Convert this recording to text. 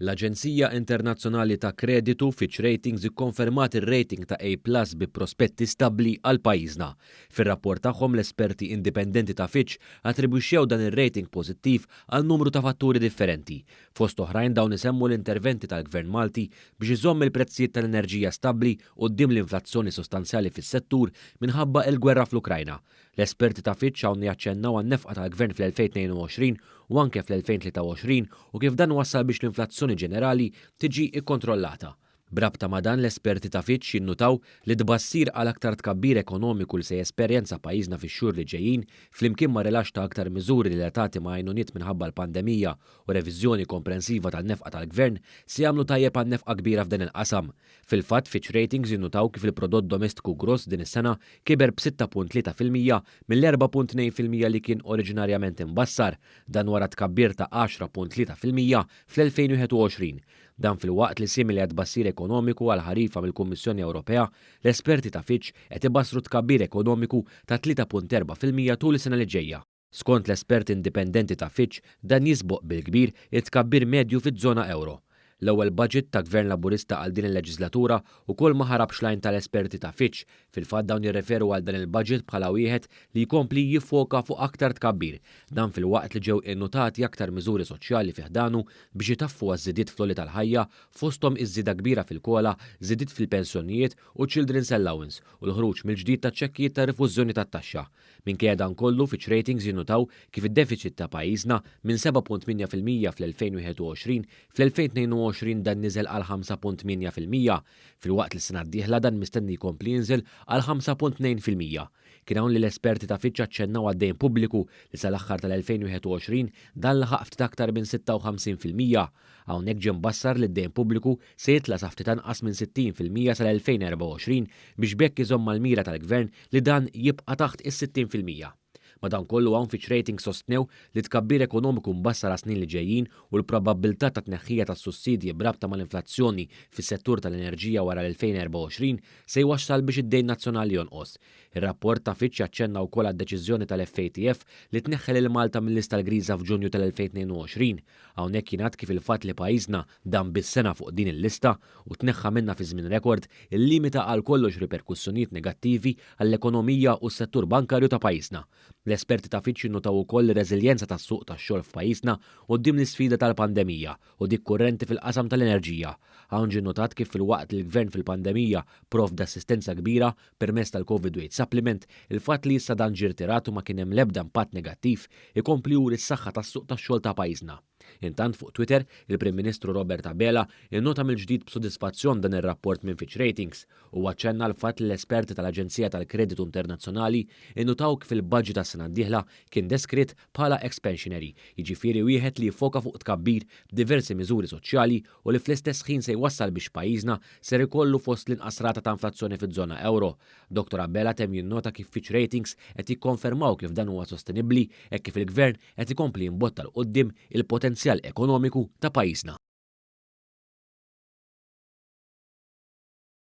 L-Aġenzija Internazzjonali ta' Kreditu Fitch Ratings ikkonfermat ir-rating ta' A plus bi prospetti stabbli għal pajjiżna. Fir-rapport tagħhom l-esperti indipendenti ta' Fitch attribwixxew dan ir-rating pożittiv għal numru ta' fatturi differenti. Fost oħrajn dawn isemmu l-interventi tal-Gvern Malti biex iżomm il-prezzijiet tal-enerġija stabbli quddiem l-inflazzjoni sostanzjali fis-settur minħabba il-gwerra fl-Ukrajna, L-esperti ta' Fitch hawn jaċċennaw għan-nefqa tal-Gvern fl-2022 u anke fl-2023 u kif dan wassal biex l-inflazzjoni ġenerali tiġi kkontrollata. B'rabta ma' dan l-esperti ta' Fitch jinnutaw li t-tbassir għal aktar tkabbir ekonomiku li se jesperjenza pajjiżna fix-xhur li ġejjin, flimkien ma' rilaxx ta' aktar miżuri relatati ma' għajnuniet minħabba l-pandemija u reviżjoni komprensiva tan-nefqa tal-Gvern, se jagħmlu tajjeb għan-nefqa kbira f'dan il-qasam. Fil-fatt, Fitch Ratings innutaw kif il-prodott domestiku gross din is-sena kiber b'6.3 fil-mija mill-4.2 fil-mija li kien oriġinarjament imbassar, dan wara tkabbir ta' 10.3 fil-mija fl-2021. Dan filwaqt li simili għat-tbassir ekonomiku għall-ħarifa mill-Kummissjoni Ewropea, l-esperti ta' Fitch qed ibassru tkabbir ekonomiku ta' 3.4 fil-mija tul is-sena li ġejja. Skont l-esperti indipendenti ta' Fitch, dan jisboq bil-kbir it-tkabbir medju fiż-żona ewro. L-ewwel budget ta' Gvern Laburista għal din il-leġislatura wkoll ma ħarabx l-għajn tal-esperti ta' Fitch, fil-fatt dawn jirreferu għal dan il-budget bħala wieħed li jkompli jiffoka fuq aktar tkabbir, dan filwaqt li ġew innutati aktar miżuri soċjali fi ħdanu biex itaffu għaż-żidiet fl-għoli tal-ħajja, fosthom iż-żieda kbira fil-COLA, żidiet fil-pensjonijiet u children's allowance u l-ħruġ mill-ġdid taċ-ċekkijiet ta' rifużjoni tat-taxxa. Minkejja dan kollu, Fitch Ratings jinnutaw kif id-defiċit ta' pajjiżna, minn 7.8 fil-mija fl-2021, fl-2022 dan niżel għal 5.8 fil-mija, filwaqt li s-sena d-dieħla dan mistenni jkompli jinżel għal 5.2 fil-mija. Kien hawn li l-esperti ta' Fitch aċċennaw għad-dejn pubbliku li sal-aħħar tal-2021 dan laħaq ftit aktar minn 56 fil-mija, Hawnhekk ġie mbassar li d-dejn pubbliku se jitla' sa ftit anqas minn 60 fil-mija sal-2024 biex b'hekk iżomm mal-mira tal-Gvern li dan jibqa' taħt is-60 fil-mija. Madankollu hawn Fitch Ratings sostnew li t-tkabbir ekonomiku mbassar għas-snin li ġejjin u l-probabbiltà ta' tneħħija tas-sussidji b'rabta mal-inflazzjoni fis-settur tal-enerġija wara l-2024 se jwassal biex id-dejn nazzjonali jonqos. Ir-rapport ta' Fitch aċċenna wkoll għad-deċiżjoni tal-FATF li tneħħel lil Malta mil-lista l-griża f'Ġunju tal-2022. Hawnhekk jingħad kif il-fatt li pajjiżna dam biss sena fuq din il-lista, u tneħħa minnha fi żmien rekord, illimita għal kollox riperkussjonijiet negattivi għall-ekonomija u s-settur bankarju ta' pajjiżna. L-esperti ta' Fitch innotaw ukoll ir-reżiljenza tas-suq tax-xogħol f'pajjiżna quddiem l-isfida tal-pandemija u dik kurrenti fil-qasam tal-enerġija. Hawn ġie nnotat kif filwaqt li l-Gvern fil-pandemija provda assistenza kbira, permezz tal-Covid Weight Supplement, il-fatt li issa dan ġie rtirat u ma kien hemm l-ebda impatt negattiv, ikompli juri s-saħħa tas-suq tax-xogħol ta' pajjiżna. Intant fuq Twitter, il-Prim Ministru Robert Abela innota mill-ġdid b'sodisfazzjon dan ir-rapport minn Fitch Ratings. Huwa aċċenna għall-fatt li l-esperti tal-Aġenzija tal-Kreditu Internazzjonali innutaw kif il-budget għas-sena d-dieħla kien deskritt bħala expansionary, jiġifieri wieħed li jiffoka fuq tkabbir b'diversi miżuri soċjali u li fl-istess ħin se jwassal biex pajjiżna ser ikollu fost l-inqas rata ta' inflazzjoni fiż-żona euro. Dottor Abela temm jinnota kif Fitch Ratings qed jikkonfermaw kif dan huwa sostenibbli hekk kif il-Gvern qed ikompli jimbotta 'l quddiem il-potenzjal ekonomiku ta' pajjiżna.